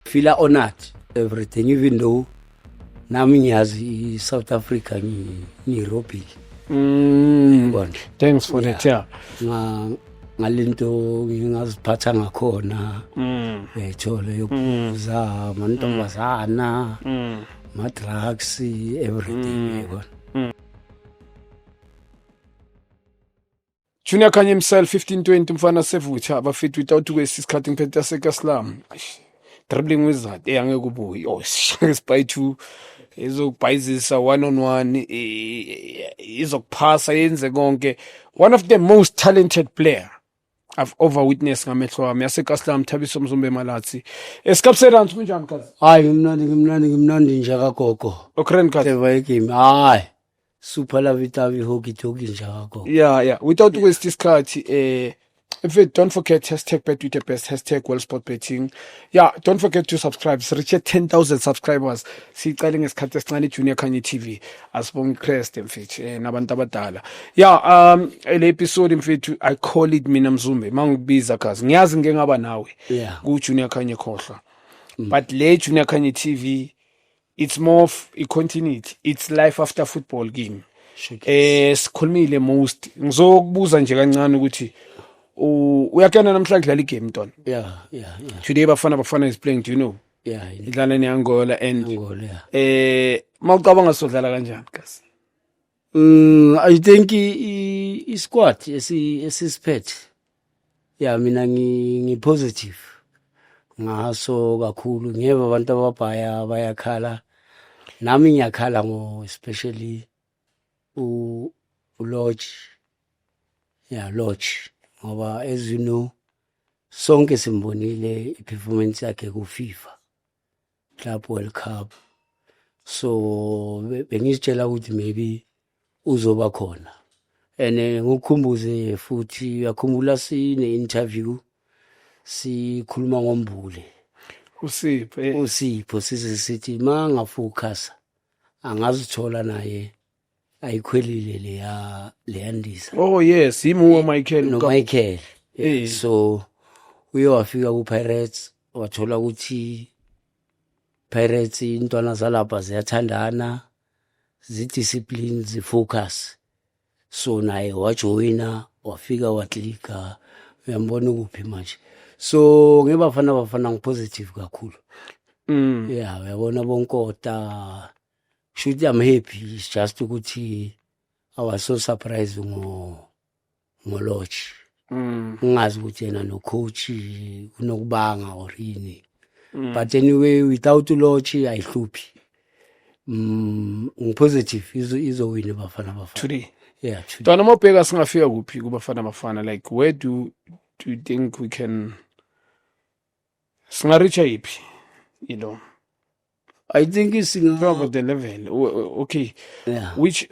fila honored everything even though nami ngiyazi i-south africa ngiyirobhile mm. bona thanks for that yeah ngalento ngingaziphatha ngakhona mm. uyayithola yokubuza mm. mantombazana ma-drugs everything yabona Junior Kanye himself 1520 mfana sevutha abafethu without kwesi isikhathi ngiphethe yasekaslam dribbling wizard eyangeke eh, ubuye oh spy two izokubhayizisa one on one izokuphasa yenze konke one of the most talented player I've over witness ngamehlo wami yasekaslam thabiso mzumbe malathi esikapserance kunjani kazi hayi ngimnandi ngimnandi ngimnandi nje kagogo okren kazi ever game hayi super love itavi hoki toki njako yeah yeah without yeah. waste isikhathi eh if it don't forget hashtag bet with the best hashtag world sport betting yeah don't forget to subscribe sireache 10000 subscribers siqale ngesikhathi esincane junior khanye tv asibonge crest mfethu eh, nabantu abadala yeah um le episode mfethu i call it mina mzumbe mangikubiza kazi ngiyazi ngeke ngaba nawe yeah ku junior khanye khohlwa mm. but le junior khanye tv it's more of a continuity it's life after football kimi eh sikhulumile most ngizokubuza nje kancane ukuthi uyakena namhlanje dlala igame ntona yeah yeah yeah today bafana bafana is playing do you know yeah idlala neAngola and Angola yeah eh mawucabanga sodlala kanjani kasi Mm, I think isquad esisiphethe. Yeah, mina ngi, ngi positive. Ngaso kakhulu ngiyeva abantu ababhaya bayakhala. Nami ngiyakhala ngo especially u Lodge. Yeah, Lodge. Ngoba as you know sonke simbonile i-performance yakhe ku-FIFA. Club World Cup so bengizitshela ukuthi maybe uzoba khona and eh, ngokukhumbuze futhi uyakhumbula sine interview sikhuluma ngombule usipho eh. usipho size sithi mangafocus angazithola naye ayikhwelile leya leyandisa oh yes yimuwo Michael no Mka- Michael Eh. so uye wafika ku Pirates wathola ukuthi Pirates intwana zalapha ziyathandana zi discipline zi focus so naye wajoyina wafika waklika uyambona ukuphi manje so ngebafana bafana ngipositive kakhulu mm. ya uyabona bonkota shuthi I'm happy it's just ukuthi I was so surprised ngo ngo lodge mm. ngingazi ukuthi yena no coach kunokubanga or yini mm. but anyway without lodge ayihluphi mm ngipositive izo izowina bafana bafana today yeah today Dona mobheka singafika kuphi kubafana bafana like where do do you think we can singareacha yiphi you know I think singa the level okay yeah. which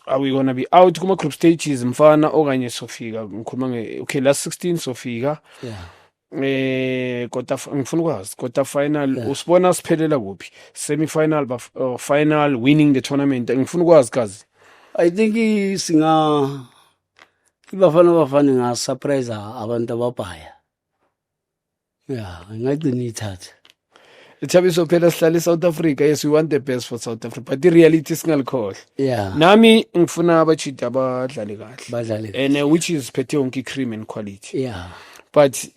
are we gonna be out kuma group stages mfana okanye sofika ngikhuluma nge okay last 16 sofika yeah eh quarter ngifuna ukwazi quarter final yeah. usibona siphelela kuphi semi final ba uh, final winning the tournament ngifuna ukwazi kazi i think singa ibafana bafana nga surprise abantu ababhaya ya ngagcina ithatha Thabiso phela sihlale South Africa yes we want the best for South Africa but the reality singalikhohle yeah nami ngifuna abachidi abadlale kahle badlale and uh, which is phethe yonke cream and quality yeah but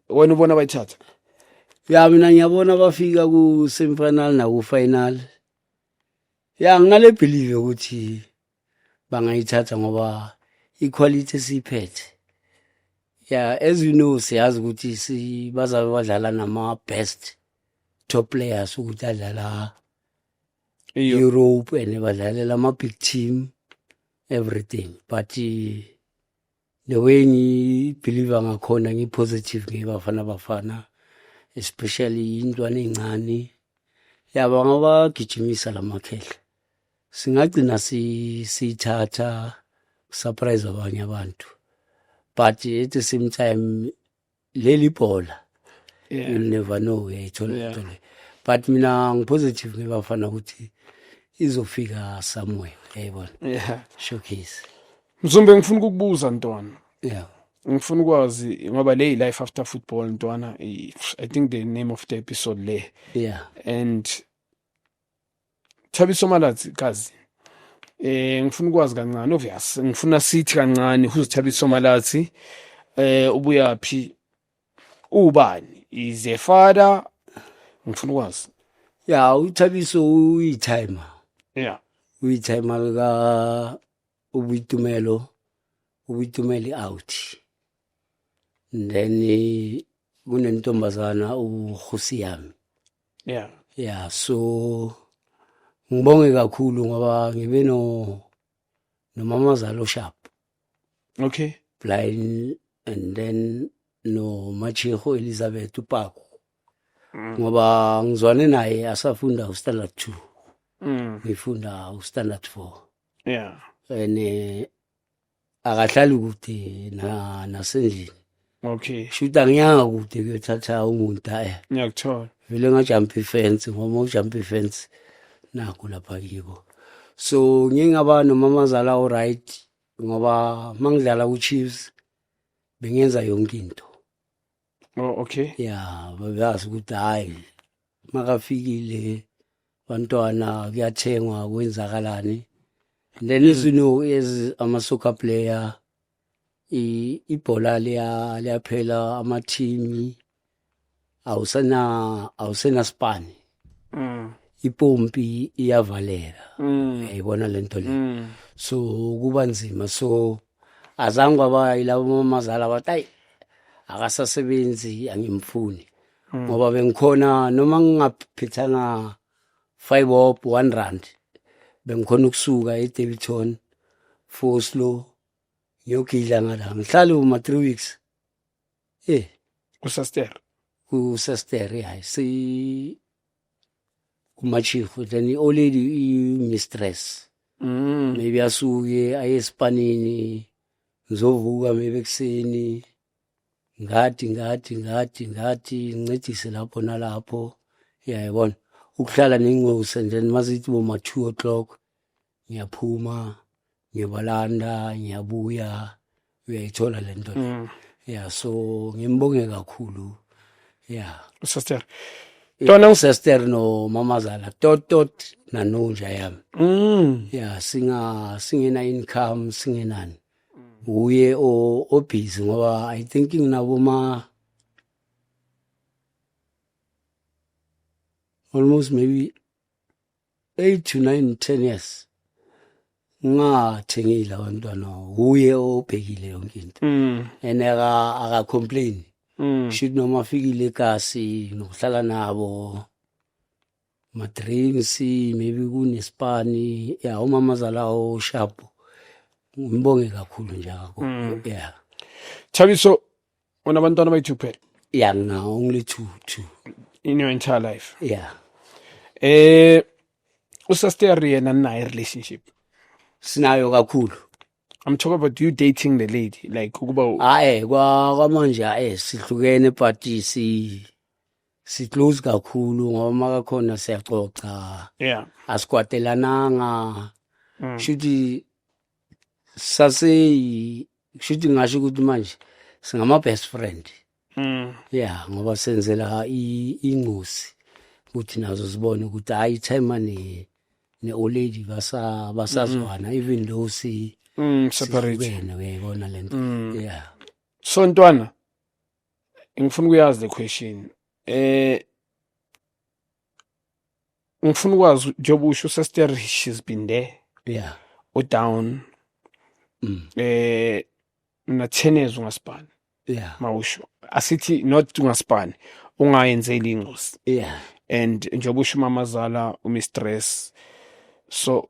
wena ubona bayithatha ya mina ngiyabona bafika ku semifinal na ku final ya nginale believe ukuthi bangayithatha ngoba iquality esiyiphethe ya as you know siyazi ukuthi bazabe badlala nama-best top players ukuthi adlala europe and badlalela ama-big team everything but the way ngibhiliva ngakhona ngipositive ngeyebafana bafana especially intwana ey'ncane yaba ngabagijimisa la makhehla singagcina siyithatha si surprise abanye abantu but at the same time leli bhola yeah. you never know uyayithola yeah. Thole. but mina ngipositive ngebafana ukuthi izofika somewhere yayibona yeah. showcase mzumbe ngifuna ukukubuza ntwana yeah ngifuna ukwazi ngoba le life after football ntwana i think the name of the episode le yeah and Thabiso Malatsi kazi eh ngifuna ukwazi kancane obvious ngifuna sithi kancane who's Thabiso Malatsi eh ubuyaphi ubani is a father ngifuna ukwazi ya uthabiso uyithayima yeah uyithayima lika ubuyitumelo ubuyitumeli out then kunentombazana uhusi yami yeah yeah so ngibonge kakhulu ngoba ngibe no nomamazalo sharp okay blind and then no machiho elizabeth upako mm. ngoba ngizwane naye asafunda ustandard 2 mm. ngifunda ustandard 4 yeah and eh, akahlali kude na nasendlini okay shuthi angiyanga kude kuyothatha umuntu aye ngiyakuthola vele ngajumpa ifence ngoba ujumpa ifence naku lapha kiko so ngingaba nomamazala oright ngoba mangidlala ku-chiefs bengenza yonke into oh okay ya babeyazi ukuthi hayi makafikile bantwana kuyathengwa kwenzakalani and then as you know as ama-soccer player i- ibhola liya- liyaphela amathimi awusena awusenasipani mm. ipompi iyavaleka mm. uyayibona le nto le mm. so kuba nzima so azange kwaba yilabo mamazala bathi ayi akasasebenzi angimfuni mm. ngoba bengikhona noma ngingaphithanga 5 bob 1 rand bengikhona ukusuka eDevton Foslo ngiyogidla ngala ngihlale uma 3 weeks eh kusester kusester hayi si umachifu then i-old lady i-mistress mm. maybe asuke aye esipanini ngizovuka maybe ekuseni ngathi ngathi ngathi ngathi ngincedise lapho nalapho yayibona ukuhlala nengosi and then mazithi boma-two o'clock ngiyaphuma ngiyabalanda ngiyabuya uyayithola le nto mm. ya so ngimbonge kakhulu ya sister Tona uSester no mamazala totot nanunja yami. Mm. Yeah, singa singena income singenani. Uye o obhizi ngoba I think nginabo ma almost maybe 8 to 9 10 years ngathengile abantwana uye obhekile yonke into mm. and aka aka complain mm. should noma fikile ekasi nokuhlala nabo ma drinks maybe kunespani ya umama zalawo sharp ngimbonge kakhulu nje akho mm. yeah Thabiso unabantwana abayi-two kuphela ya ngina only two two in your entire life ya eh usaster yena ninaye relationship sinayo kakhulu i'm talking about you dating the lady like ukuba u- hayi kwa- kwamanje hayi sihlukene but si siclose kakhulu ngoba makakhona siyaxoxa yeah asikwatelananga Mm. shuthi saseyi kusho ukuthi ngasho ukuthi manje singama-best friend Mm. ya ngoba senzela i- ingosi ukuthi nazo zibone ukuthi hhayi ithema ne- ne-oledi basa- basazwana even though si- Mm, separate. sihlukene uyayibona le nto Mm. ya So ntwana ngifuna ukuyazi the question. Eh ngifuna ukwazi njengoba usho sester she's been there yeah udown mm. eh unathenezwa ngasibani yeah mawusho asithi not ungasibani ungayenzeli ingozi yeah and njengoba usho umamazala umistress so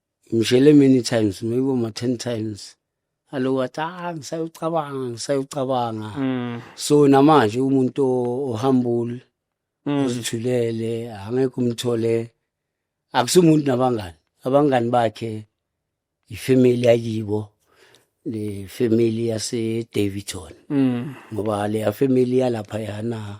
Ngishele many times maybe uma 10 times. Aloku athi ah ngisayocabanga ngisayocabanga. Mm. So namanje umuntu o- ohambul Mm. uzithulele angeke umthole akusumuntu nabangani abangani bakhe ifamily yakibo le family yase Davidson Mm. ngoba le family yalapha yana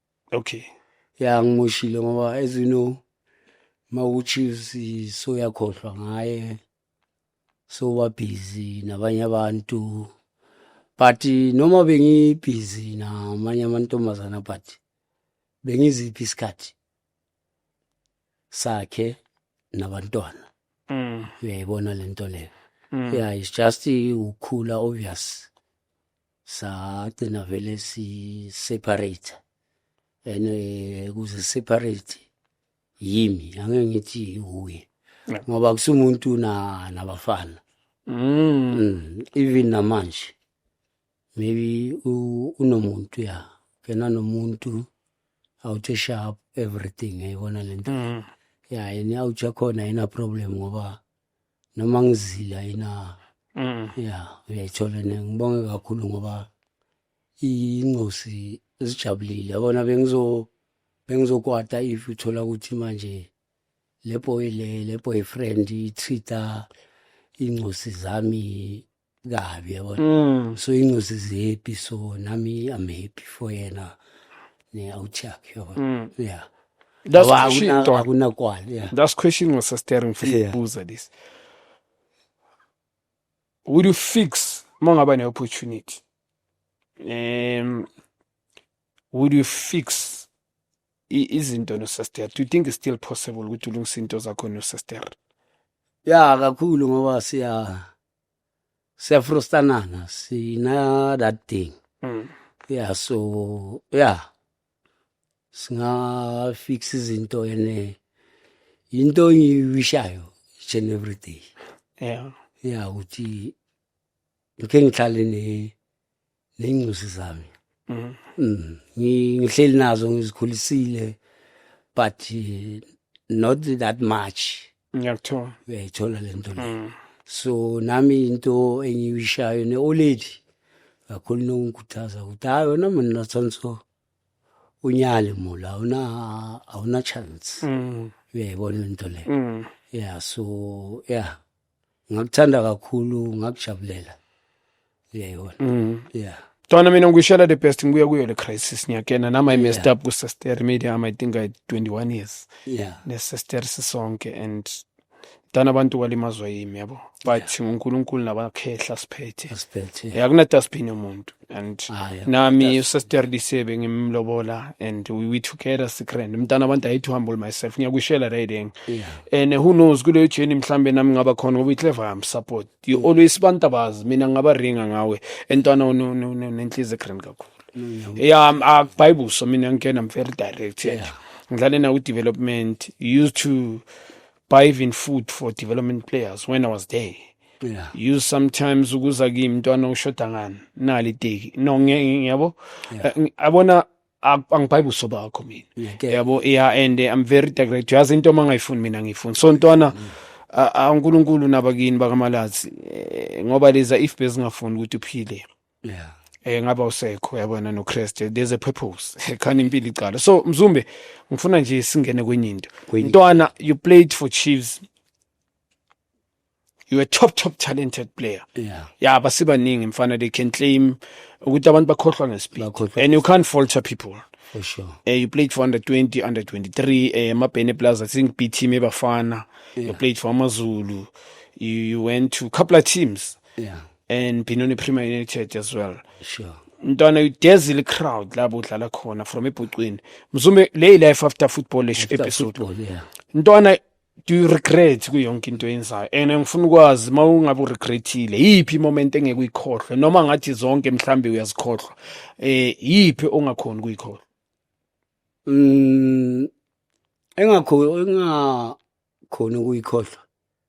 okay ya ngimoshile ngoba as you know mawuchiefs so yakhohlwa ngaye so wa busy nabanye abantu but noma bengi busy namanye amantombazana but bengiziphi isikhathi sakhe nabantwana mm. uyayibona lento leyo mm. yeah it's just ukhula obvious sagcina vele si separate and eh, kuze separate yimi angeke ngithi uye ngoba kusumuntu na nabafana mm. mm even namanje maybe unomuntu ya kena nomuntu awuthe sharp everything ayibona lento mm. ya yena awutsha khona yena problem ngoba noma ngizila yena mm. ya uyayithola ne ngibonge kakhulu ngoba ingosi zijabulile yabona bengizo bengizokwata if uthola ukuthi manje le boy le le boyfriend ithitha ingosi zami kabi yabona mm. so incozi zihappy so nami i'm happy for yena ne awuchak yabona mm. yeah that's question akunakwala yeah that's question was staring for yeah. buza this would you fix mangaba ne opportunity um would you fix izinto nosester do you think it's still possible ukuthi ulungise into zakho nosester ya kakhulu ngoba siya siyafrustanana sina that thing Mm. yeah so yeah singa fix izinto ene into engiwishayo each and every day Yeah. yeah ukuthi ngike ngihlale ne ney'ncusi zami Mm. Mm, ngi- ngihleli nazo ngizikhulisile but eh, not that much ngiyakuthola uyayithola le nto le Mm. so nami into engiyishayo ne-oledi kakhulu nokungikhuthaza ukuthi hayi wena mina natsonso unyale mula awuna- awuna-chance Mm. uyayibona le nto le Mm. ya so ya ngakuthanda kakhulu ngakujabulela uyayibona mm. yeah Twana mina ngikushela the best ngibuya kuyo le crisis ngiyakena nama yeah. messed up ku sister media am I think I 21 years yeah ne sister sisonke and dana abantu kwalimazwa yimi yabo but yeah. uNkulunkulu nabakhehla siphethe siphethe yeah. akuna dustbin yomuntu and Aye, nami that's- usester disebe ngimlobola and we, we together sikrand mntana abantu i hate to humble myself ngiyakwishela riding Yeah. and who knows kuleyo journey mhlambe nami ngaba khona ngoba iclever am support you Mm. always bantabazi mina ngaba ringa ngawe entwana ono- no- no- nenhliziyo ekrand kakhulu Mm, yeah I'm- ah, bible so mina ngikena i'm very direct and ngidlale nawo development you used to buy even food for development players when I was there. Yeah. You sometimes ukuza kimi mntwana ushoda ngani nali iteki no ngiyabo yeah. Eh, abona angibhayi buso bakho mina yabo yeah and eh, I'm very direct yazi into uma ngayifuni mina ngiyifuni so ntwana mm. uNkulunkulu nabakini bakamalazi eh, ngoba leza if bezingafuni ukuthi uphile yeah eh ngaba usekho yabona noKristu there's a purpose khani impilo icala so mzumbe ngifuna nje singene kwenye into ntwana you played for Chiefs you a top top talented player yeah yeah basibaningi mfana they can claim ukuthi abantu bakhohlwa ngespeed and you can't falter people for sure uh, you played for under 20 under 23 uh, eh, mabhene plus i think b team ebafana yeah. you played for amazulu you, you went to couple of teams yeah and Benoni Premier United as well sure ntwana udezile crowd labo udlala khona from ebhucwini mzume le life after football episode ntwana do you regret ku yonke into yenzayo and ngifuna ukwazi uma ungabe uregrethile yiphi imoment engeke uyikhohlwe noma ngathi zonke mhlambe uyazikhohlwa eh yiphi ongakhona ukuyikhohlwa mm engakho engakhona ukuyikhohlwa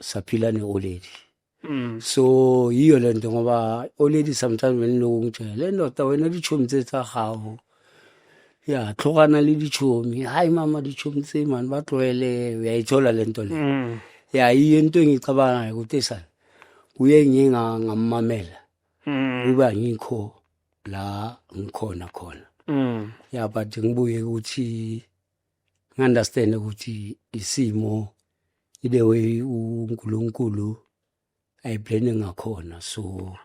saphila ne-oledi Mm. so yiyo le nto ngoba oledi sometimes beniloko ngitshela le ndoda wena litshomi tse tsa gago ya tlhogana le litshomi hayi mama litshomi tse mani ba tlwaele uyayithola le nto le Mm. ya yiyo into engiyicabangayo ukuthi sani kuye nginga- ngammamela Mm. uba ngikho la ngikhona khona Mm. ya but ngibuye ukuthi ngi-understand ukuthi isimo ile way uNkulunkulu ayiplane ngakhona so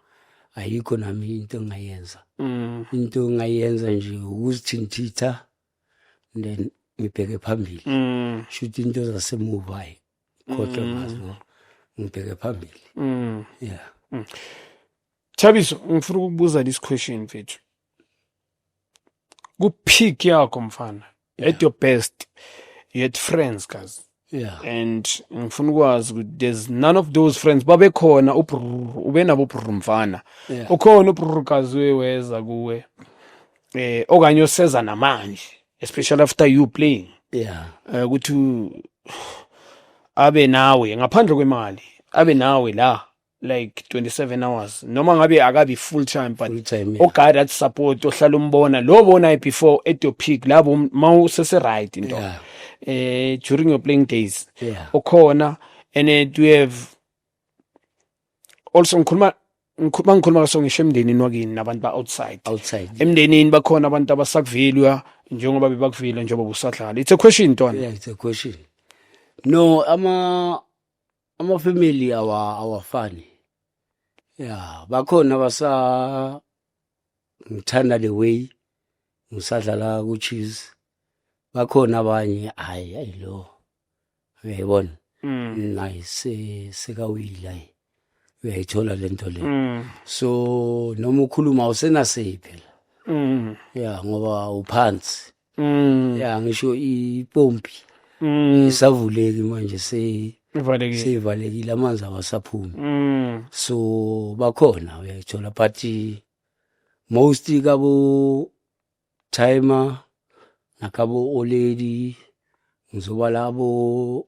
ayikho nami into engayenza mm. into engayenza nje ukuzithintitha then ngibheke phambili mm. shuthi into zasemuva hayi kodwa mm. ngazo ngibheke phambili mm. yeah mm. Thabiso ngifuna ukukubuza this question mfethu ku peak yakho mfana yeah. at your best you had friends guys yeah and ngifuna ukwazi ukuthi there's none of those friends babekhona ube nabo brr mfana yeah. ukhona ubrr kazi weza kuwe eh okanye oseza namanje especially after you playing yeah eh, ukuthi uh, abe nawe ngaphandle kwemali abe nawe la like 27 hours noma ngabe akabi full time but full time yeah. oguy that support ohlala umbona lo bona before at your peak labo mawusese right into yeah. eh during your playing days yeah. okhona and it we have also ngikhuluma ngikhuluma ngikhuluma so ngisho emndenini wakini nabantu ba outside outside emndenini bakhona abantu abasakuvilwa njengoba bebakuvile njengoba busadlala it's a question ntwana yeah it's a question no ama Amafamily awa awafani. Yeah, bakhona abasa ngithanda the way ngisadlala ku cheese. Bakhona abanye hayi ayilo. Uyayibona? Mm. Nayi se sekawila. Uyayithola lento le. Mm. So noma ukhuluma usenasiphi phela. Mm. Yeah, ngoba uphansi. Mm. ya ngisho ipompi Mm. isavuleki manje se Ivalekile. seyivalekile amanzi awasaphumi Mm. so bakhona uyayithola but most kabo timer nakabo oledi ngizoba labo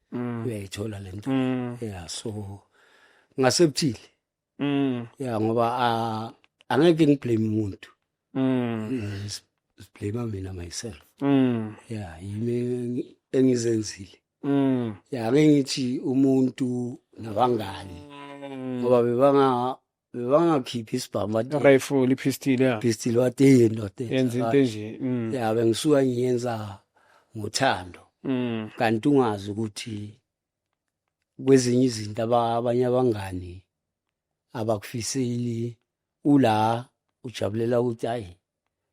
Mm. uyayithola le nto Mm. ya so ngasebuthile Mm. ya ngoba ah, angeke ngiblame umuntu Mm. siblame mina myself Mm. ya yimi engi- engizenzile Mm. ya ngeke ngithi umuntu nabangani ngoba bebanga bebangakhiphi isibhamu bathi rifle ipistol ya pistol wathi hey ndoda yenza into enje mm. ya bengisuka ngiyenza ngothando mm. kanti ungazi ukuthi kwezinye izinto abanye abangani abakufiseli ula ujabulela ukuthi hayi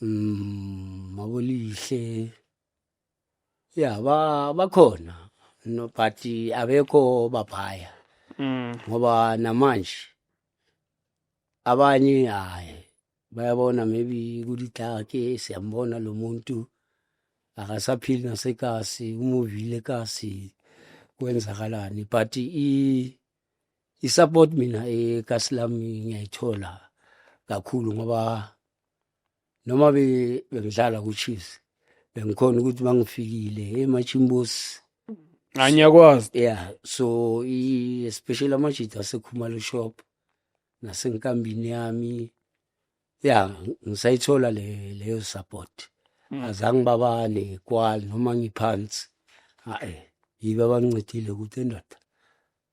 Mm, mabolihle ya ba bakhona no but abekho baphaya Mm. ngoba namanje abanye hayi bayabona maybe kulithake siyambona lo muntu akasaphili nasekasi umuvile kasi kwenzakalani but i i-support mina ekasi lami ngiyayithola kakhulu ngoba noma bengidlala ku-chiefs bengikhona ukuthi bangifikile emachimbosi anyakwazi ya so especially amajita asekhumalo shop nasenkambini yami ya ngisayithola leyo support mm. azange babale kwali noma ngiphansi hayi yibe abancedile ukuthi endoda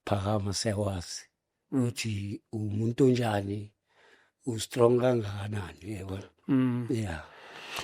Phakama siyakwazi ukuthi umuntu onjani ustrong kangakanani yebo mm. yeah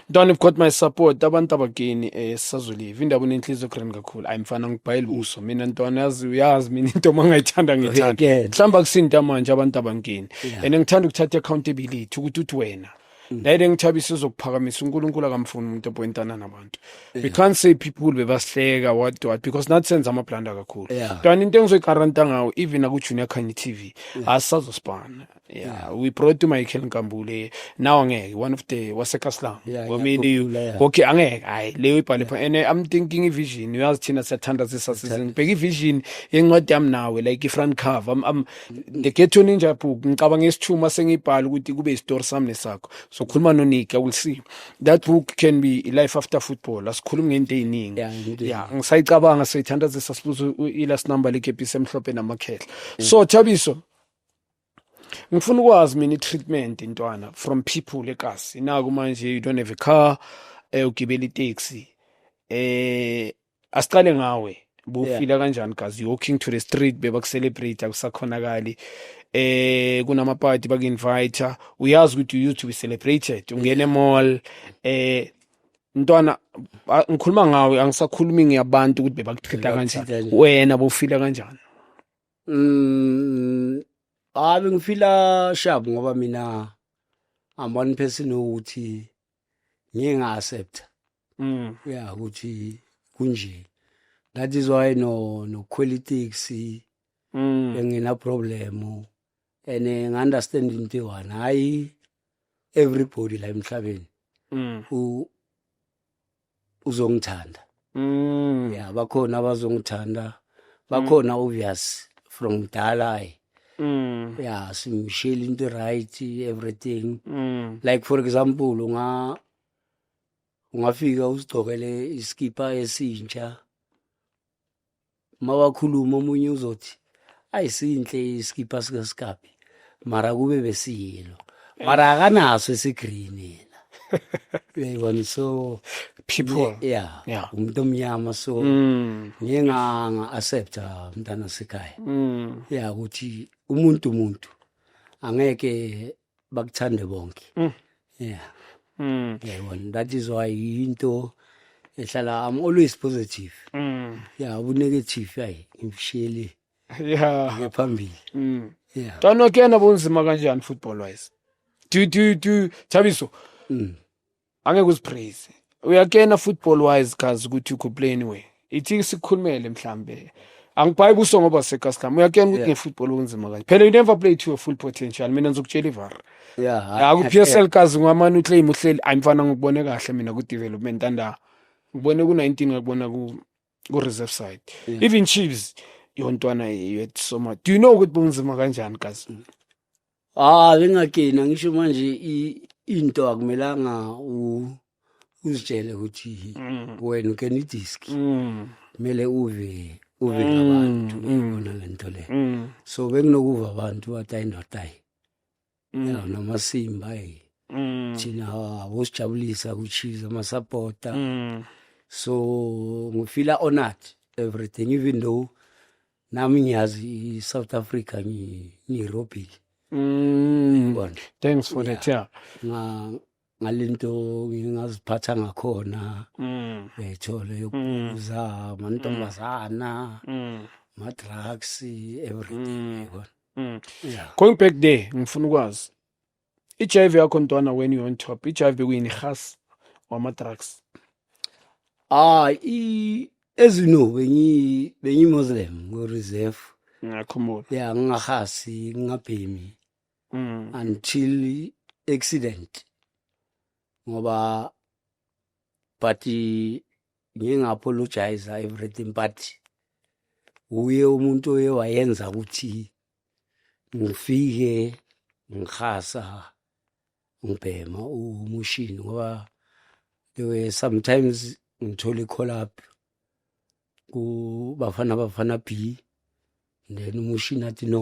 Don you've got my support abantu abageni eh sisazolive indaba unenhliziyo grand kakhulu ayi mfana ngibhayile uso mina ntwana yazi uyazi mina into mangayithanda ngithanda mhlamba kusinta manje abantu abangeni and ngithanda ukuthatha accountability ukuthi uthi wena Lady engithabisa uzokuphakamisa uNkulunkulu akamfuni umuntu oboyintana nabantu. We can't say people bebasihleka what what because nathi senza ama blunder kakhulu. Kanti into engizoyigaranta ngawo even aku Junior Khanye TV asazosibana. Yeah, we brought to Michael Nkambule. Now ngeke one of the waseKaslam. Ngomini okay angeke hayi leyo ibhale pha and I'm thinking i vision uyazi thina siyathanda sisasizini. Bheka i vision yencwadi yami nawe like i front cover. I'm, I'm the ghetto ninja book ngicabanga isithuma sengibhala ukuthi kube isitori sami nesakho sokhuluma noniki will see that book can be life after football asikhulumi ngento eziningi yeah ngisayicabanga seyithanda sesibuzo ilast number lekepisi emhlophe namakhehla mm. so thabiso ngifuna ukwazi mina i-treatment intwana from people ekasi naku manje you don't have a car eh ugibela itaxi eh asiqale ngawe bufila kanjani gazi walking to the street bebakucelebrate akusakhonakali eh kunama party baku-invite uyazi ukuthi you used to be celebrated ungene mall eh ntwana a- ngikhuluma ngawe angisakhulumi ngiyabantu ukuthi bebakuthinta kanjani Bebakuthintani. wena bufila kanjani Mm, hayi ngifila shabu ngoba mina I'm one person ukuthi ngiye nga accept mm yeah ukuthi kunje that is why no no politics mm engina problem and eh, nga understand into one hayi everybody la emhlabeni mm u uzongithanda mm. ya bakhona abazongithanda bakhona mm. obvious from mdala ayi mm. ya simshile into right everything mm. like for example unga ungafika usigcokele isikipa esintsha mawakhuluma omunye uzothi ayisinhle isikipha sikasikabi mara kube besiyilo mara akanaso esigreen yena uyayibona so people yeah, yeah. umuntu omnyama so mm. ngiye nga-accepta mntana sekhaya mm. ya ukuthi umuntu umuntu angeke bakuthande bonke mm. yeah mm. yayibona that is why into ehlala i'm always positive mm. yeah ubunegative ayi ngimshiyele yeah ngephambili mm. yeah tano kena bunzima kanjani football wise do do do thabiso mm. angeke uzipraise uyakena football wise kazi ukuthi ukho play anyway ithi sikhulumele mhlambe angibhayi buso ngoba sekaskam uyakena ukuthi yeah. ngefootball kunzima kanje phela you never play to your full potential mina ngizokutshela ivar yeah ku-psl kazi ngwamane uclaim uhleli ayimfana ngikubone kahle mina ku-development anda ngibone ku-19 ngakubona ku-reserve side yeah. even chiefs yontwana yethu soma do you know ukuthi bunzima kanjani kazi Ah bengagena ngisho manje into akumelanga u uzitshele ukuthi mm. wena ugena idisk. Mm. Kumele uve uve mm, abantu ibona lento le. So benginokuva abantu bathi ayindoda. Yena namasimba eh. Thina wosijabulisa kuchiza amasupporter. So ngifila honored everything even though nami ngiyazi i-south africa ngi-aerobic mm. bondle thanks for that yeah ngalento ngingaziphatha ngakhona mm. uyayithola yokubuza mm. mantombazana ma-drugs everything yabona going back there ngifuna ukwazi i-hiv yakho ntwana when you on top i-hiv kuyini has wama-drugs hayi as you know bengiyi-muslim ngo-reserve ngiyakhumbula ya ngingahasi ngingabhemi mm. until accident ngoba but ngingapologize everything but uye umuntu oye wayenza ukuthi ngifike ngikhasa ngibhema umushini ngoba there were sometimes ngithole i-call up ku bafana bafana b then umushini athi no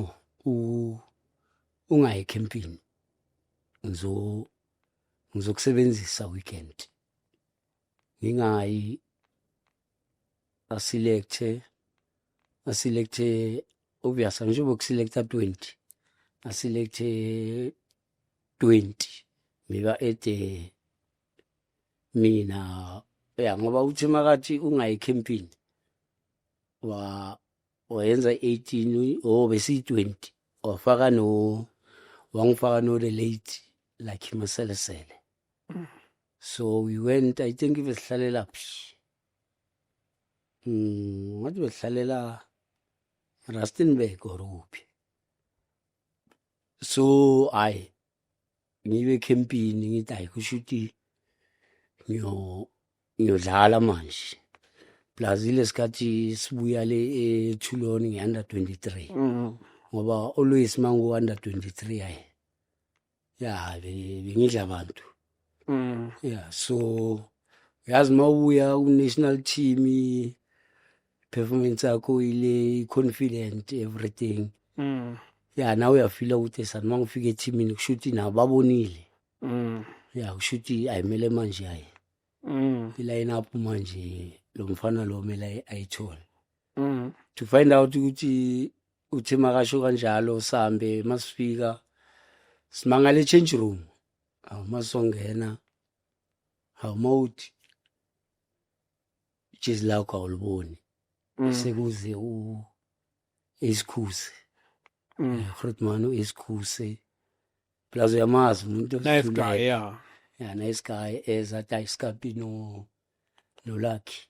ungayi ekhempini ngizo ngizokusebenzisa weekend ngingayi asilekthe asilekthe obviously angisho bokusilektha 20 asilekthe 20 ngiba ede mina ya ngoba uthi makathi ungayi camping wa wayenza 18 oh besi 20 wafaka no wangifaka no relate like maselesele mm. so we went i think besihlalela phi mm ngathi besihlalela Rustenburg or kuphi so ay ngibe campini ngithi ay kusho ukuthi ngiyo ngiyodlala manje plus ilesikhathi sibuya le ethuloni ngi-under 23 mm. ngoba always mangu-under 23 ayi ya be- bengidla abantu Mm. ya so uyazi uma ubuya ku-national team i-performance yakho ile i-confident everything Mm. ya nawe uyafila ukuthi sani uma ngifika ethimini kusho ukuthi nabo babonile Mm. ya kusho ukuthi ayimele manje ayi Mm. iline up manje lo mfana lo mele ayi- ayithole mm. to find out ukuthi uthe makasho kanjalo sambe masifika simangale change room awu masongena awu mawuthi ijezi lakho awuliboni mm. sekuze u isikhuse mm. eh, grootman uisikhuse plus uyamazi umuntu nice guy yeah yeah nice guy eza tayiskapi no nolakhi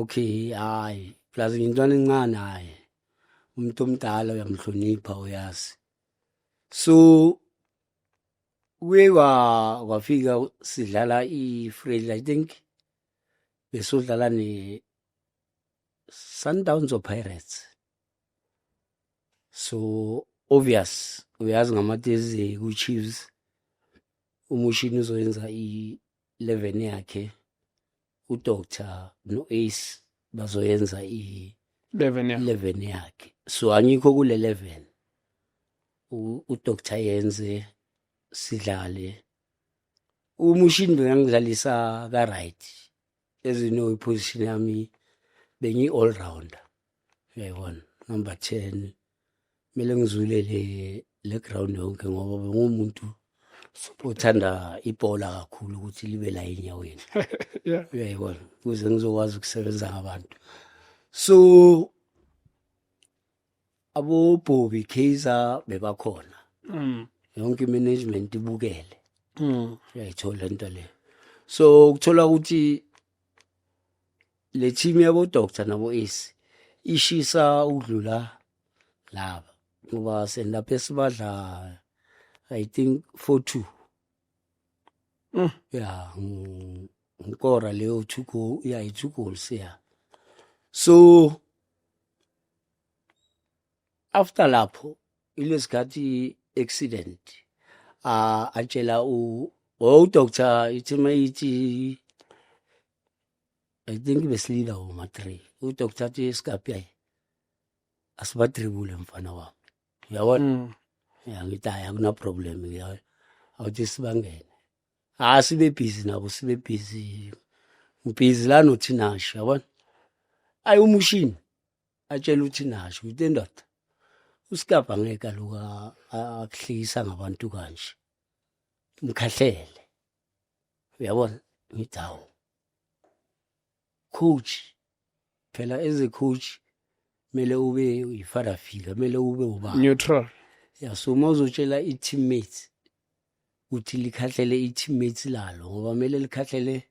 okay hayi plus ngintwana encane hayi umuntu omdala uyamhlonipha uyazi so kuye kwafika sidlala i-frail i think besodlala ne-sundowns or pirates so obvious uyazi ngamatezi ku-chiefs umushini uzoyenza i-11 yakhe udoctor no-ace bazoyenza i-11 yakhe so angikho kule 11 udoctor yenze sidlale umushini bengangidlalisa ka-right as you know iposition yami bengiyi-all rounder uyayibona number 10 kumele ngizwile le le ground yonke ngoba bengumuntu othanda ibhola kakhulu ukuthi libe la enyaweni uyayibona ukuze ngizokwazi ukusebenza ngabantu so abobhobi kaizer bebakhona mm. yonke imanagement ibukele mm. uyayithola into leyo so ukuthola ukuthi le team yabo doctor nabo ace ishisa ukudlula laba ngoba senilapha esibadla i think 42 mm. ya ngikora leyo two goal ya i two goals ya so after lapho ilesikhathi accident uh, atshela u oh doctor ithi mayithi I think besilila uma 3 udoctor athi iskapi yayi asibatribule mfana wami uyabona mm. ya ngithi hayi akuna problem ngiyayo awuthi sibangene ah sibe busy nabo sibe busy ngibhizi la nothi nasho yabona ayi umushini atshela uthi nasho uthi endoda usikapa ngeke aloku akuhlekisa ngabantu kanje mkhahlele uyabona ngithi hawu coach phela as a coach kumele ube yi-father figure kumele ube ubaba neutral ya so uma uzotshela i-teammates ukuthi likhahlele i-teammates lalo ngoba kumele likhahlele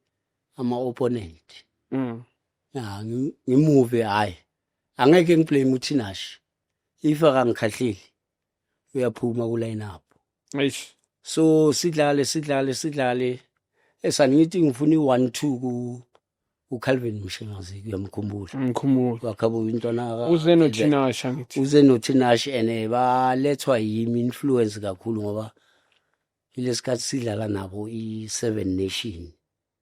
ama-opponent mm. ya ngimuve hhayi angeke ngiblame uthinashi if akangikhahleli uyaphuma ku line up eish so sidlale sidlale sidlale esangithi ngifuna i-one two ku uCalvin Mshengazi kuyamkhumbula ngikhumbula wakhabu intwana uze noThinasha ngithi uze noThinasha ene balethwa yimi influence kakhulu ngoba ilesikhathi sidlala nabo i7 nation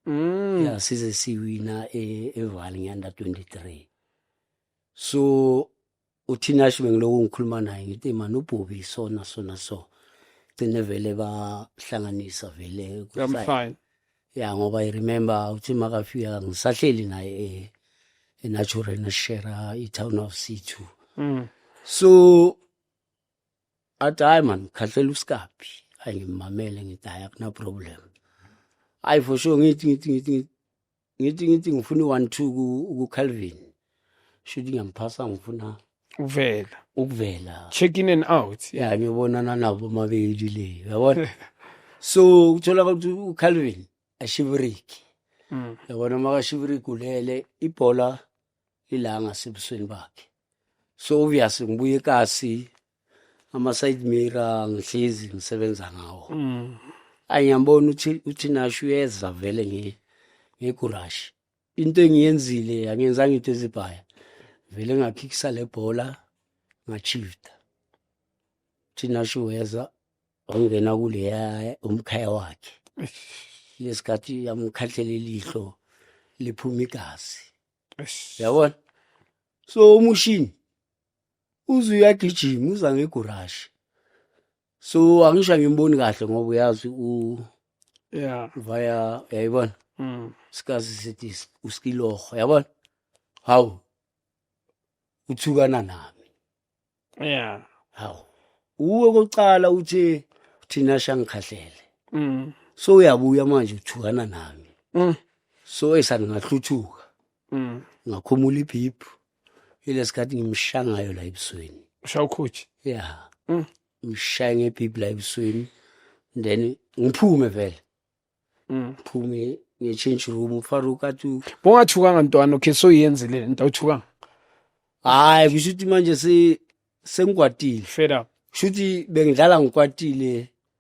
mm ya size siwina e- eVaal ngeanda 23 so uthinash bengiloku ngikhuluma naye ngithi mani ubhubi sona sona so gcine vele bahlanganisa vele kusayini ya ngoba i remember uthi makafika ngisahleli naye e, enatural nashera itown of c2 mm. so athi hayi mani khahlela usikaphi hayi ngimamele ngithi hayi akunaproblem hayi for sure ngithi ngithi ngithi ngithi ngithi ngifuna i-one two ku- kucalvin shuthi ngiyamphasa ngifuna uvela ukuvela check in and out ya ngiyobonana nabo mabili le yabona so kutholakala ukuthi ucalvin ashiviriki Mm. yabona makashiviriki ulele ibhola lilanga sebusweni bakhe so obvious ngibuye kasi ama-side mirror ngihlezi ngisebenza ngawo mm. ayiyambona uthi uthi nasho uyeza vele nge ngegurashi into engiyenzile angenzanga into ezibhaya vele ngakhikisa le bhola ngachifta uthi nasho uyeza wangena kuleya umkhaya wakhe lesikhathi yamkhathela ilihlo liphuma igazi yabona so umushini uze uyagijima uza ngegurashi so angisho angimboni kahle ngoba uyazi u yeah via yayibona mm. sikazi sithi uskiloho yabona hawu uthukana nami yeah hawu uwe kokuqala uthi thina shangikhahlele mm. so uyabuya manje uthukana nami mm. so esangingahluthuka Mm. Ngakhumula iphiphu. Ilesikhathi ngimshangayo la ebusweni. Ushawa ukhoji. Yeah. Mm. Ngishaya ngephiphu la ebusweni. Then ngiphume vele. Mm. Ngiphume nge change room uFarouk athi bongathukanga ntwana okay so yenzile into awuthukanga. Hayi kusho ukuthi manje se sengikwatile. Fed up. Shuthi bengidlala ngikwatile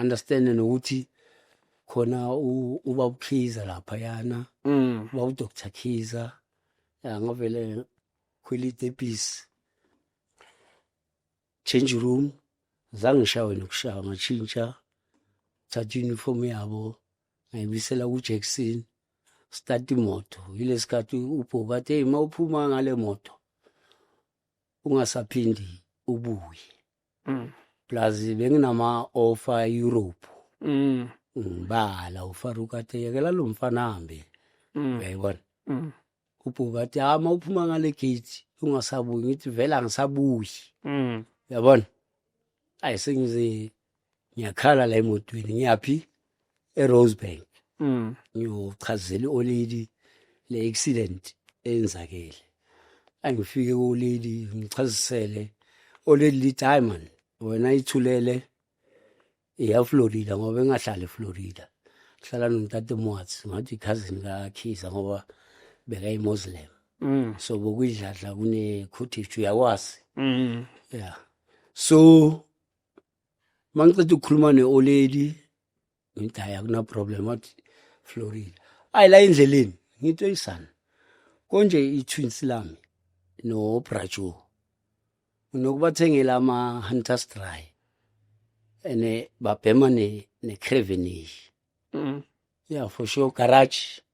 understand nokuthi khona uba ukhiza lapha yana mm. uba u Dr Khiza ya ngavele khwili debis change room zange shawe nokushawa ngatshintsha thatha uniform yabo ngayibisela ku Jackson start imoto yilesikhathi ubhokade hey mawuphuma ngale moto ungasaphindi ubuye Mm. plus benginama-ofa europe Mm. ngibala ufaruka athi yekela lo mfana hambe Mm. uyayibona Mm. ubhuka athi hayi uma uphuma ngale gate ungasabuyi ngithi vele angisabuyi Mm. uyabona ayi sengize ngiyakhala la emotweni ngiyaphi eRosebank mm. ngiyochazela olady le accident eyenzakele angifike kulady ngichazisele olady lithi hayi mani wena ithulele eyaflorida ngoba engahlali eflorida hlala nomtate mwatsi ngathi ikhazini kakhiza ngoba bekayimuslim mm. so bokuyidladla kune-cottage uyakwazi mm. yeah so mangiceda ukukhuluma ne-oleli ngithi hayi akunaproblem wathi florida ayi la endleleni ngithi oyisana konje i-twins lami nobrajo unokubathengela ama-hunters dry and babhema ne-cravenish mm. yeah for sure garage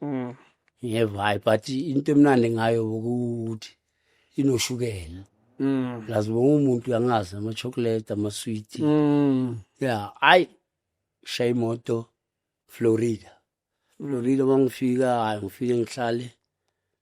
Mm. Ngiyeva hayi but into emnandi ngayo ukuthi inoshukela. Mm. Plus wonke umuntu uyangazi ama chocolate ama sweet. Mm. Yeah, hayi shaya imoto Florida. Florida mangifika hayi ngifike ngihlale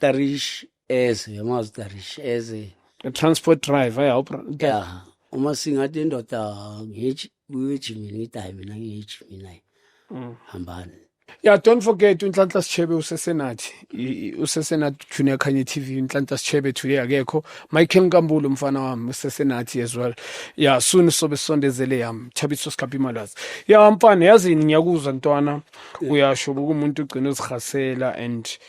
tarish eze yamazi tarish eze transport driver ya ya uma singathi indoda ngithi uyejimini ngithi hayi mina ngiyejimini naye mm. hambani ya don't forget unhlanhla sichebe usesenathi usesenathi junior khanye tv unhlanhla sichebe today akekho michael nkambulo mfana wami usesenathi as well ya soon sobe sondezele yami thabiso sikhapha imalazi ya mfana yazini ngiyakuzwa ntwana uyasho ukuthi umuntu ugcina uzihasela and yeah.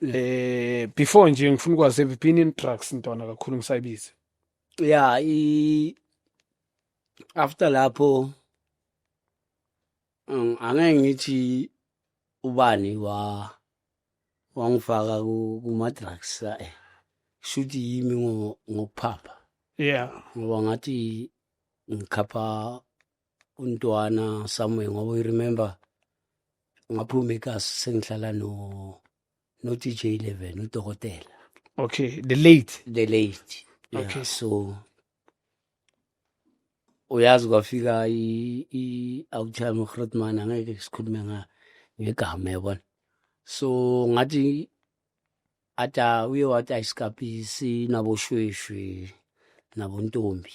eh before nje ngifuna ukwazi have been in drugs ntwana kakhulu ngisayibiza yeah i after lapho um, angeke ngithi ubani wa wangifaka kuma drugs eh shuthi yimi ngokuphapha yeah ngoba ngathi ngikhapha untwana somewhere ngoba you remember ngaphuma ekasi sengihlala no no DJ 11 udokotela okay the late the late yeah, okay so uyazi kwafika i i awuthaya uGrotman angeke sikhulume nga ngegama yabona so ngathi ata uye wathi ayisikapisi naboshweshwe nabontombi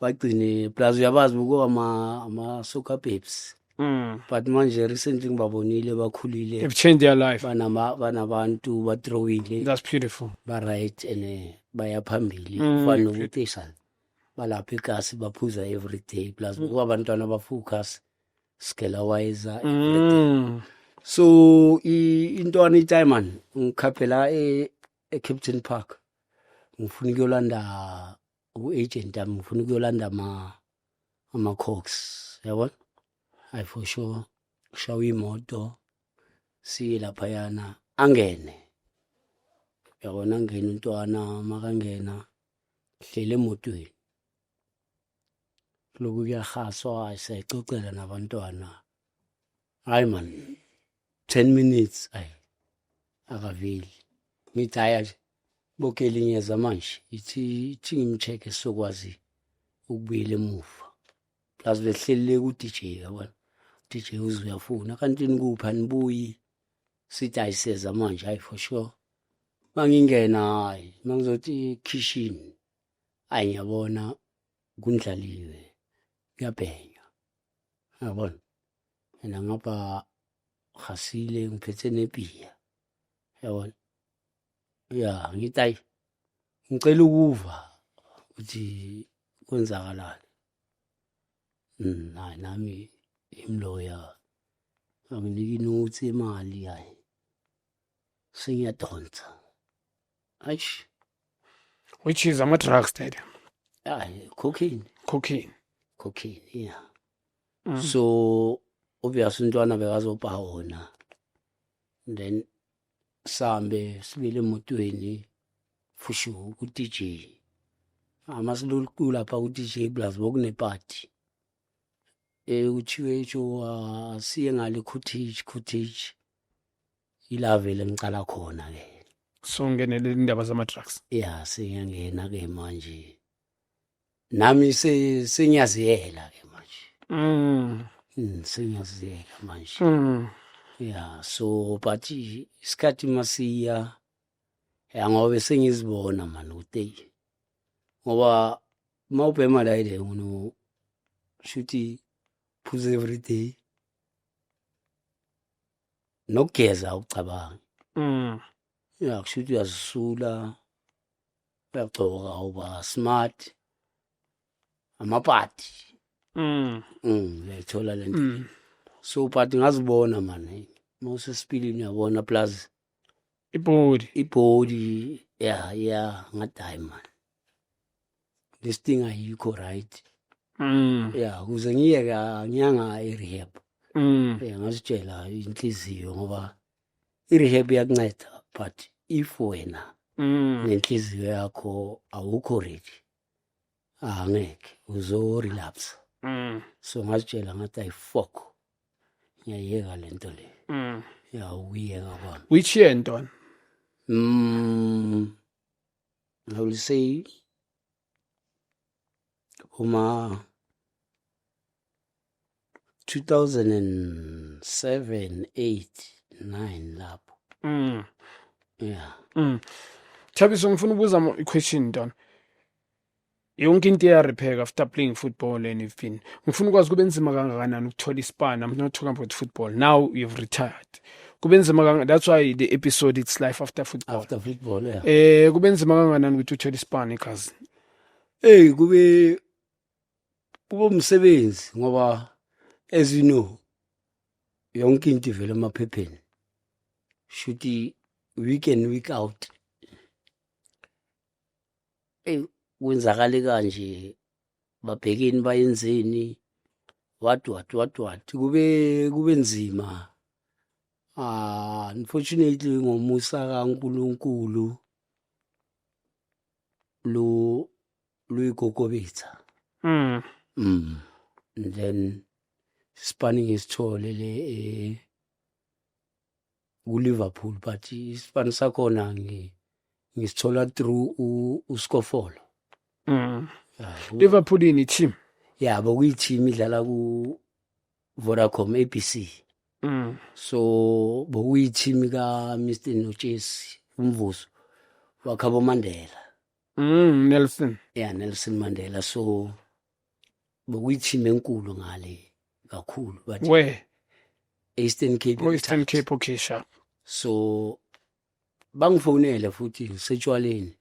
bagcine plus uyabazi buko ama ama soccer babes Mm. but manje recently ngibabonile bakhulile They've changed their life. banama banabantu badrawile That's beautiful. ba right and eh, baya phambili Mm. kufana nokutisa balapha igasi baphuza every day plus kuba abantwana bafocus scale wise Mm. so i- intwana itiman ngikhaphela e, e captain park ngifuna ukuyolanda u-agent ami ngifuna ukuyolanda ama ama-cox yabona hayi for sure kushawa imoto siye laphayana angene yabona angene untwana makangena hlele emotweni loku kuyahaswa siyayixoxela nabantwana hayi man 10 minutes ay akaveli ngithi haya nje bokeli ngiyeza manje ithi ithi ngimcheck sokwazi ukubuyela emuva plus behlelele ku DJ yabona DJ uzuyafuna kanti nikuphi anibuyi sithi ayiseza manje hayi for sure mangingena hayi mangizothi kitchen ayi ngiyabona kundlaliwe kuyabhenya yabona and ngapha gasile ngiphethe nebiya yabona ya ngithi ayi ngicela ukuva ukuthi kwenzakalani mm, hayi nami imloya anginiki nothi imali hayi sengiyadonsa aish which is ama-drugs dad hayi cocaine cocaine cocaine yeah Mm. so obvious umntwana bekazobha wona then sambe sibile emotweni fushu ku-dj ama silolu lapha ku-dj plus bokunepati um kuthiwe isho asiye ngale cottage cottage ilavele ngicala khona-ke so ngenele indaba zama-drugs ya sengiyangena-ke manje nami se- sengiyaziyela ke manje Mm. Mm, sengiyaziyela manje Mm. ya so but i- isikhathi masiya ya ngobe sengizibona mani ukuthi eyi, ngoba uma ubhema la ile uno shuthi phuze every day nokugeza ucabanga Mm. ya kushuthi uyazisula uyagcoka uba smart amapati mm mm uyayithola le nto mm. so pati ngazibona mani mawusesipilini uyabona plus ibhodi ibhodi ya ya ngathi hayi mani this thing ayikho right mm ya kuze ngiyeke ngiyanga i-rehab mm ya ngazitshela inhliziyo ngoba I-rehab iyakunceda but if wena mm. nenhliziyo yakho awukho ready angeke uzorelapse mm. so ngazitshela ngathi ayifok ngiyayeka le nto le mm. yawuyeka kwami which year ntwana mm, i will say kuma 2007 8 9 lapho mm yeah mm Thabiso ngifuna ubuza i question ntona yonke into iya repair after playing football and you've been ngifuna ukwazi kube nzima kangakanani ukuthola ispan i'm not talking about football now you've retired kube nzima kanga that's why the episode it's life after football after football yeah eh kube nzima kanganani ukuthi uthole ispan ekhasi hey kube kube umsebenzi ngoba as you know yonke into ivela emaphepheni shuthi week and week out hey kwenzakale kanje babhekeni bayenzeni what what what what kube kube nzima ah unfortunately ngomusa kaNkuluNkulu lu luyigogobitha mm mm and then spanning isithole le eh, kuLiverpool but isipani sakhona ngi ngisithola through uSkofolo mm Liverpool ini team yabo kuyi team idlala ku Vodacom ABC mm so bokuyi team ka Mr Notshesi umvuzo wakhabo Mandela mm Nelson yeah Nelson Mandela so bokuyithima enkulu ngale kakhulu but where Eastern Cape oh, Eastern Cape okay sharp so bangifonele futhi ngisetshwaleni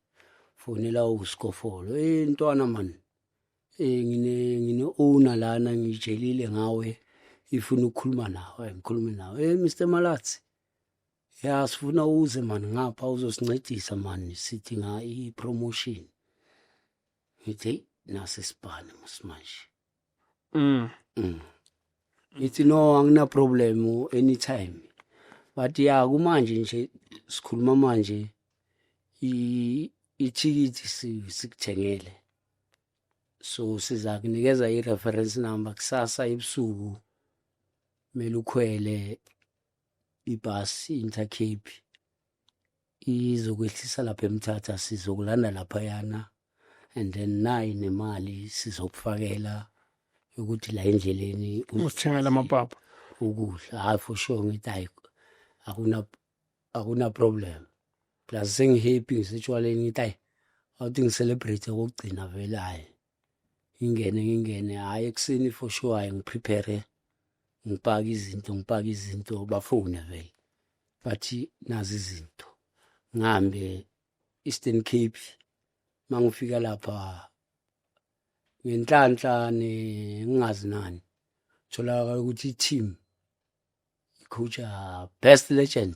fonela uskofolo eh ntwana man eh ngine ngine owner lana ngijelile ngawe ifuna ukukhuluma nawe ngikhulume nawe eh Mr Malatsi ya sifuna uze man ngapha uzosincedisa man sidinga i promotion ngithi nase sibhane musimanje mm mm ngithi no angina problem anytime but ya kumanje nje sikhuluma manje i ithikithi sikuthengele so siza kunikeza i-reference number kusasa ebusuku kumele ukhwele ibhasi intercape izokwehlisa lapha emthatha sizokulanda laphayana and then nayi nemali sizokufakela ukuthi la endleleni usithengela amapapa ukudla hayi for sure ngithi hayi akuna akuna problem plus sengihappy ngisetshaleni ngithi hayi awuthi ngicelebrate kokugcina vele hayi ngingene ngingene hhayi ekuseni for sure hhayi ngiprepare ngipake izinto ngipake izinto bafone vele bathi nazi izinto ngihambe Eastern Cape mangifika lapha ngenhlanhla ngingazi nani tholakala ukuthi i-team icoacha best legend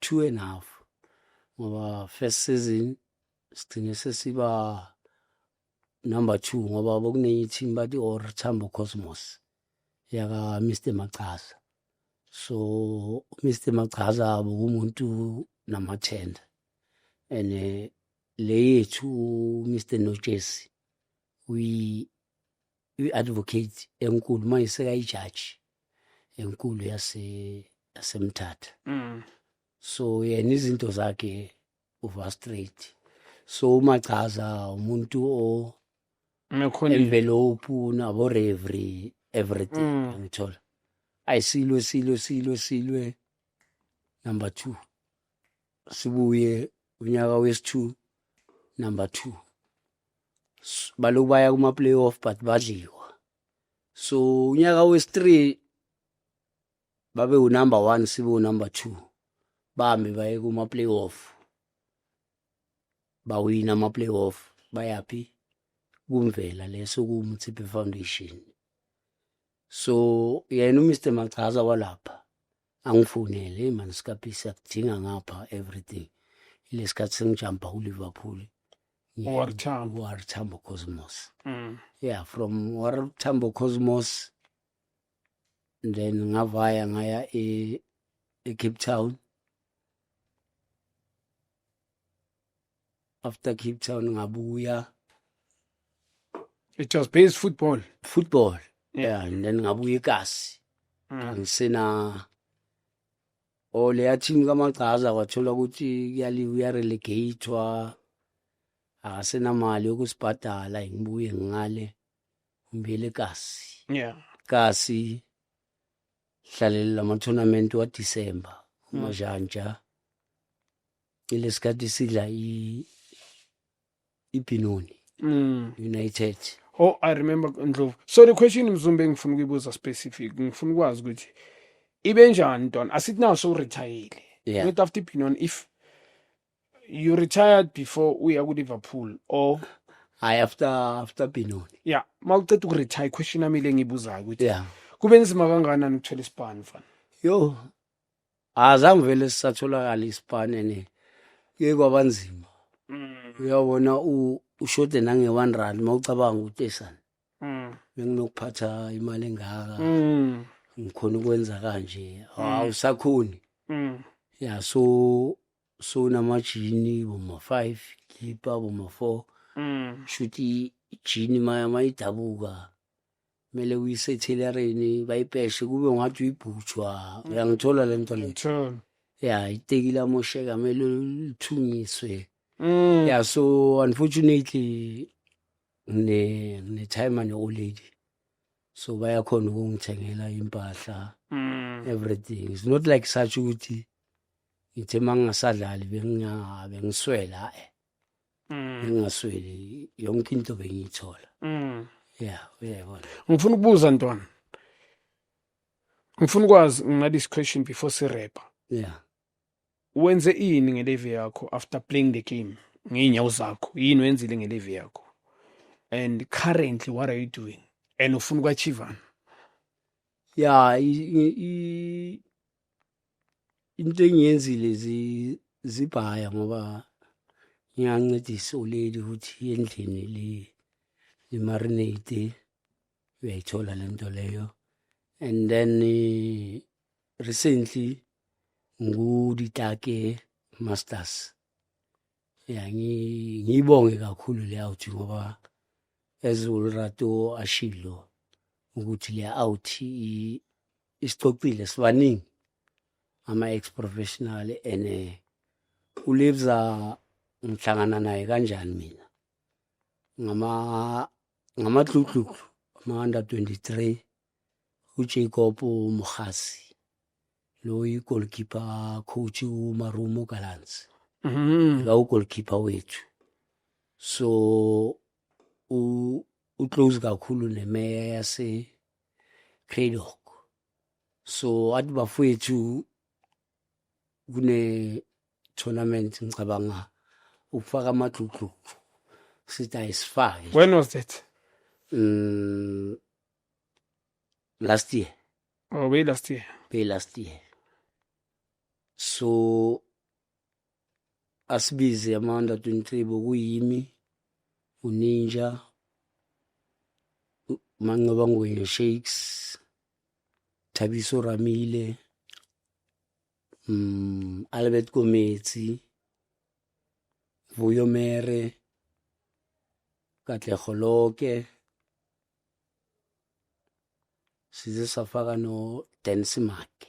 two and half ngoba first season sigcine sesiba number two ngoba bokunenye team bathi or Tambo Cosmos yaka Mr Machaza so Mr Machaza bokumuntu namathenda and eh, le yethu Mr Nojesi uyi i-advocate enkulu manje sekayijaji enkulu yase yasemthatha mm. so yena izinto zakhe uva straight so uma chaza umuntu o envelope nabo revery everything mm. angithola ayisilwe silwe silwe silwe number 2 sibuye unyaka wesi-2 number 2 baloku baya kuma-playoff but badliwa so unyaka wesi-three babe unumber one sibe unumber two bahambe baye kuma-playoff bawina ama-playoff bayaphi kumvela leso kuwumthiphe foundation so yena uMr Machaza walapha angifonele hey man sikaphi siyakudinga ngapha everything lesikhathi sengijamba ku Liverpool War Tambo War Tambo Cosmos mm. yeah from War Tambo Cosmos then ngavaya ngaya e, e Cape Town after Cape Town ngabuya it was based football football yeah and then ngabuya eKasi mm. angisena o leya team kamagcaza kwathola ukuthi kuyali uyarelegatwa akasenamali yokusibhadala ngibuye ngale ngibuyele kasi yeah kasi hlalele lama tournament wa December mm. umajanja Lesikhathi sidla i ibhinoni mm. United. Oh, I remember Ndlovu. So the question Mzumbe ngifuna ukuyibuza specific, ngifuna ukwazi ukuthi ibe njani don asithi nawo so retire. Yeah. Not after ibhinoni if you retired before uya ku Liverpool or hayi after after Benoni yeah mawuceda ukuretire question yami le ngibuzayo ukuthi yeah kube nzima kangakanani ukuthola isibani mfana yo azange vele sisatholakala isipane ne ke kwabanzima mm. uyabona ushode nange 1 rand mawucabanga utesana mm. benginokuphatha imali engaka mm. ngikhona ukwenza kanje awusakhoni ya so so namajini boma 5 gipa boma 4 shuthi ijini maya mayidabuka kumele uyisethilereni bayipeshe kube ngathi uyibhutshwa mm. uyangithola le nto le ya itekile amosheka kumele lithungiswe mm. ya so unfortunately ngine-time ne-old lady so bayakhona ukungithengela impahla mm. everything it's not like such ukuthi ngithe uma ngingasadlali bengiswela e ngingasweli yonke into bengiyithola mm. ya uyayibona ngifuna ukubuza ntwana ngifuna ukwazi nginqala isiquestion before sirepa ya wenze ini ngelevi yakho after playing the game ngey'nyawo zakho yini wenzile ngelevi yakho and currently what are you doing and ufuna ukwachivana ya into engiyenzile zibhaya ngoba ngiyancedisa uleli ukuthi endlini li limarinate uyayithola le nto leyo and then eh, recently nguditake masters ya ngiyibonge kakhulu le out ngoba ezulrato ashilo ukuthi le out isicocile sibaningi ama ex professional and eh, uLibza ngihlangana naye kanjani mina ngama ngamadludludlu ama under 23 uJacob Muhasi lo yigoalkeeper coach uMarumo Gallants mhm la ugoalkeeper wethu so u uclose kakhulu nemeya yase Greylock so athi bafowethu kune tournament ngicabanga ukufaka amaxuxuxu sithi ayisifake when was that mm, last year oh way last year way last year so asibize amanda tuntribo kuyimi uninja mancoba ngwenya shakes thabiso ramile mm, albert kometsi vuyo mere katlego loke size safaka no densimake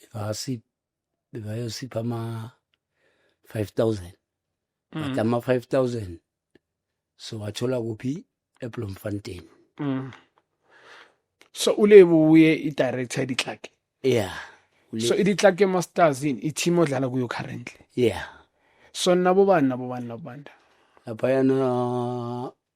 bebasi bebayosipha ama 5000 but mm. ama 5000 so wathola kuphi eBloemfontein mm. so ulebu uye i-director ditlake yeah so iditlake masters yini i-team odlala kuyo currently yeah so nabo bani nabo bani nabo banda laphayana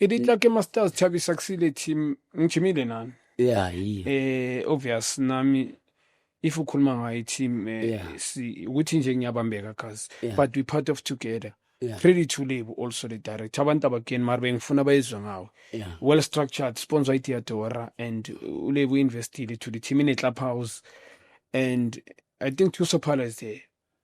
e di tla ke masters thabisa kusile team ngijimile nani yeah yi eh obvious nami if ukhuluma ngayo team eh, Yeah. si ukuthi nje ngiyabambeka guys Yeah. but we part of together Yeah. pretty to live also the director abantu abakeni mari bengifuna bayizwe ngawe yeah well structured sponsor itiadora and ulebu investile to the team in a club house and i think tuso pala is there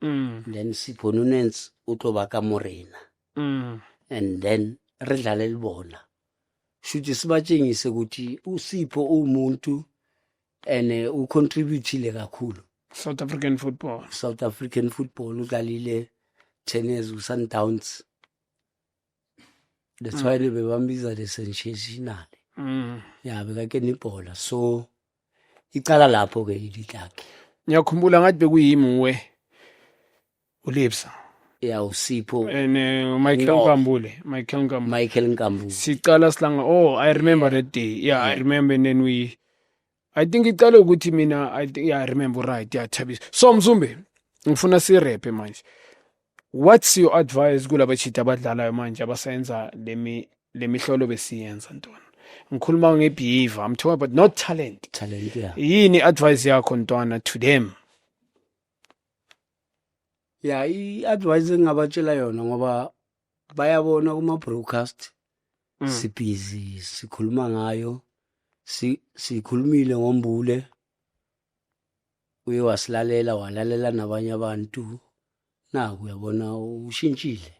mm. then siphona unensi o tlo ba ka morena mm. and then re dlalele bona shuthi sibatshengise ukuthi usipho uwumuntu and eh, ucontributile kakhulu south african football south african football udlalile ten years kusundowns that's why mm. bebambiza the sensational mm. ya bekake nibhola so icala lapho ke ili lakhe ngiyakhumbula ngathi bekuyimuwe ulipsa ya usipho and uh, michael no. nkambule michael nkambule michael nkambule sicala silanga oh i remember yeah. that day yeah, yeah. i remember and then we i think icale ukuthi mina i think yeah, remember right yathabisa so mzumbe ngifuna sirepe manje what's your advice kulaba chita abadlalayo manje abasenza lemi lemihlolo besiyenza ntwana ngikhuluma ngebehavior i'm talking about not talent talent yeah yini advice yakho ntwana to them ya i-advice engingabatshela yona ngoba bayabona kuma broadcast Mm. sibhizi sikhuluma ngayo si- sikhulumile ngombule uye wasilalela walalela nabanye abantu naku uyabona ushintshile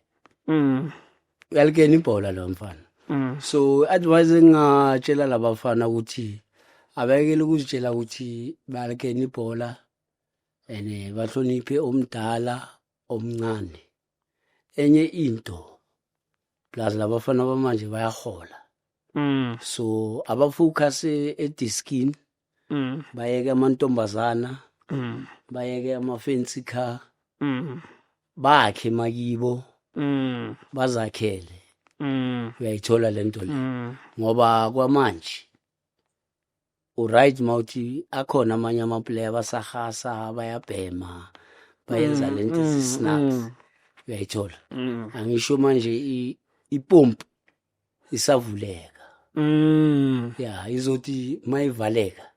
Mm. uyalikena ibhola lo mfana Mm. so advice engingatshela labafana ukuthi abekele ukuzitshela ukuthi balikena ibhola and eh, bahloniphe omdala omncane enye into plus labafana bamanje bayahola mm. so abafocus ediskin mm. bayeke amantombazana mm. bayeke amafensi car mm. bakhe makibo mm. bazakhele mm. uyayithola lento le mm. ngoba kwamanje uright mawuthi akhona amanye amaplayer abasahasa bayabhema bayenza mm, lento mm, snacks mm. uyayithola mm. angisho manje ipompi isavuleka mm. ya izothi mayivaleka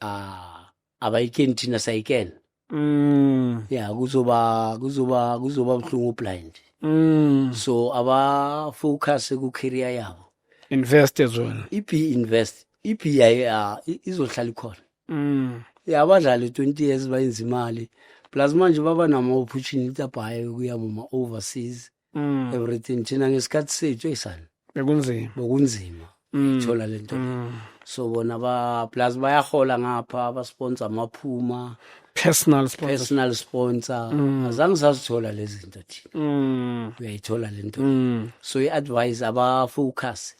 ah abayikeni thina sayikena mm yeah kuzoba kuzoba kuzoba buhlungu blind mm so aba focus ku career yabo invest as well ip invest ip ya izohlala ikhona mm yeah abadlali 20 years bayenza imali plus manje baba nama opportunity abhaye kuya mama overseas mm. everything thina ngesikhathi sethu eyisani bekunzima bokunzima mm. thola lento mm. so bona ba plus bayahola ngapha ba sponsor amaphuma personal sponsor personal sponsor mm. azange sazithola lezi zinto thina mm. uyayithola lento mm. so i advise aba focus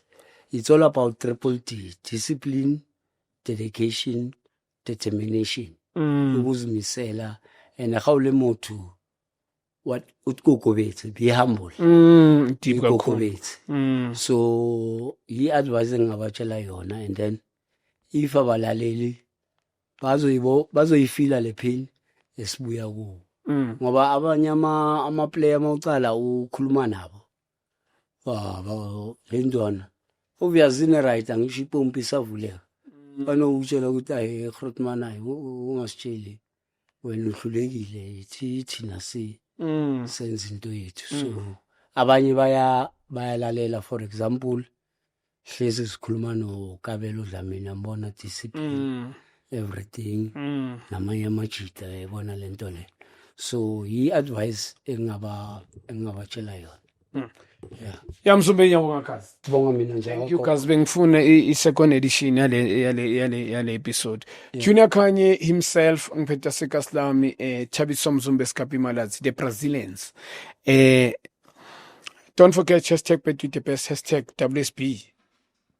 it's all about triple D discipline dedication determination mm. ukuzimisela and how le motho what utkokobetsi be humble mm, deep kakhulu utkokobetsi mm. so i-advice engingabatshela yona and then if abalaleli bazoyibo bazoyifila le phini esibuya kuwo Mm. ngoba abanye ama- amaplayer uma ucala ukhuluma nabo Ah, ba- le ntwana obviyazini right angisho ipompi isavuleka banokuwutshela ukuthi ayi egrotman ayi ungasitsheli wena uhlulekile yithi thina si mm. senza into yethu mm. so mm. abanye baya bayalalela for example hlezi sikhuluma nokabelo dlamini ambona discipline mm. everything mm. namanye amajita ebona lento le so yi advice engaba engabatshela yona Hmm. Yeah. Ya msumbe ngiyabonga kazi. Bonga mina nje. Thank you kazi bengifune i second edition yale yale yale yale episode. Yeah. Junior Kanye himself ngiphetha sekaslami eh Chabiso Mzumbe Sikapi Malazi the Brazilians. Eh Don't forget hashtag Between the Best, hashtag WSB.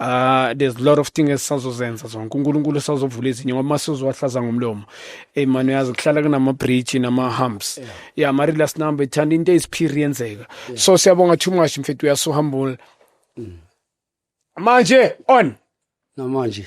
Uh, there's a lot of things esisazozenza zonke unkulunkulu usazovula ezinye ngoba uma sizowahlaza ngomlomo eyi mani uyazi kuhlala kunama-bridge nama-humps yeah. yeah mari last number ithanda into eziphiri yenzeka yeah. so siyabonga too much mfethu uyasuhambula mm. manje on namanje